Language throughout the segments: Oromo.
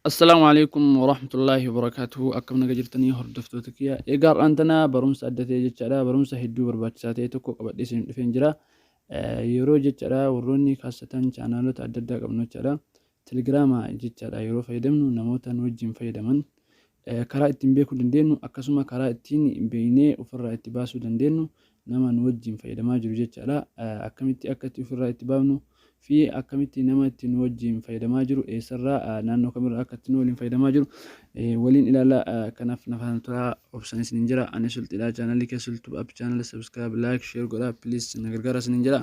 Assalaamu alaikum warahmatullaahi wabarakaatuhu akkam naga jirtanii hordoftoota kiyya egaa har'aan tana barumsa adda ta'e jechaadha barumsa hedduu barbaachisaa ta'e tokko qabadhee isin dhufeen jira yeroo jechaadha warroonni kaasatan chaanaalota adda addaa qabnu jechaadha telegiraama jechaadha yeroo fayyadamnu namoota nu wajjin fayyadaman Karaa ittiin beekuu dandeennu akkasuma karaa ittiin beeknee ofirraa itti baasuu dandeennu nama nu wajjin fayyadamaa jiru jechaadha. Akkamitti akka itti ofirraa itti baafnu fi akkamitti nama itti nu wajjin fayyadamaa jiru eessarraa naannoo kamirraa akka itti nu waliin fayyadamaa jiru waliin ilaala. Kanaaf na faana turaa obsan isiniin jira. Ani sulxidha chaanalii kee sultub app chaanala subscribe like share godha please na gargaara isiniin jira.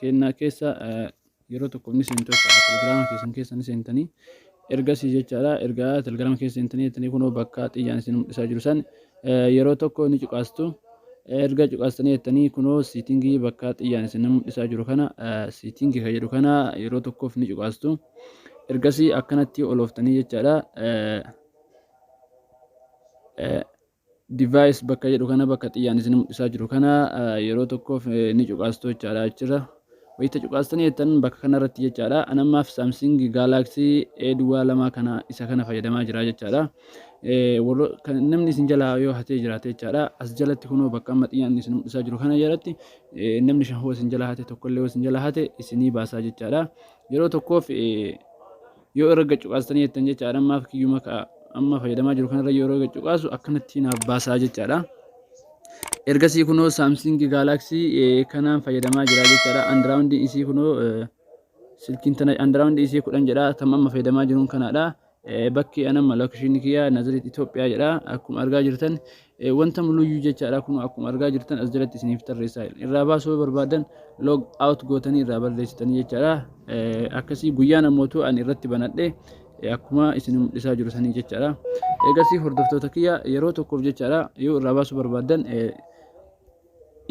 keenna keessa yeroo tokko ni seentu jechaadha. Telegiraama keessan keessa ni seentanii ergasii jechaadha erga telegiraama keessa seentanii jettanii kunoo bakka xiyyaan isin mul'isaa jiru san yeroo tokko ni cuqaastu. Erga cuqaastanii jettanii kunoo siitingii bakka xiyyaan isin mul'isaa jiru kana siitingii kan jedhu kana yeroo tokkoof ni cuqaastu. Ergasii akkanatti olooftanii jechaadha. Device bakka jedhu kana bakka xiyyaan isin mul'isaa jiru kana yeroo tokkoof ni cuqaastu jechaadha achirra. Wayita cuqaastanii jettan bakka kanarratti jechaadha. An ammaaf Samsung Galaxy A duwwaa lamaa kana isa kana fayyadamaa jira jechaadha. Namni isin jalaa yoo hatee jiraate jechaadha. As jalatti kunoo bakka amma xiyyaan isin mul'isaa jiru kana jalatti namni shan hoo isin jalaa hate tokkollee hoo isin jalaa hate isinii baasaa jechaadha. Yeroo tokkoof Yoo irra gad cuqaastanii jettan jechaadha ammaaf kiyyuma ka'a amma fayyadamaa jiru kanarra yoo irra gad cuqaasu akkanatti naaf baasaa jechaadha. Ergasii kunoo Samsung Galaxy eh, kanaan fayyadamaa jira jechaadha. Andiraawundiin isii kunoo eh, silkiin tana andiraawundi isii kudhan jedha tam amma fayyadamaa jiruun kanaadha. Eh, Bakki anamma lookishinii kiyya Nazireet Itoophiyaa jedha akkuma argaa jirtan Eh, wanta muluyyuu jechaadha kunoo akkuma argaa jirtan as jalatti isiniif tarreessaa jira. Irraa baasuu yoo barbaadan log out gootanii irraa balleessitanii jechaadha. Eh, akkasii guyyaan ammootu ani irratti banadhe eh, akkuma isin mul'isaa jiru sanii jechaadha. Eegasii hordoftoota kiyya yeroo tokkoof jechaadha yoo irraa baasuu barbaadan eh,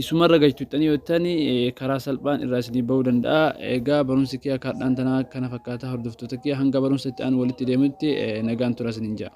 isumarra galchuuttanii yoo ta'ani eh, karaa salphaan irraa isinii ba'uu danda'a. Egaa barumsi kiyya kaadhaan tanaa kana fakkaata hordoftoota kiyya hanga barumsa itti aanu walitti deemutti eh, nagaan tura isiniin ja'a.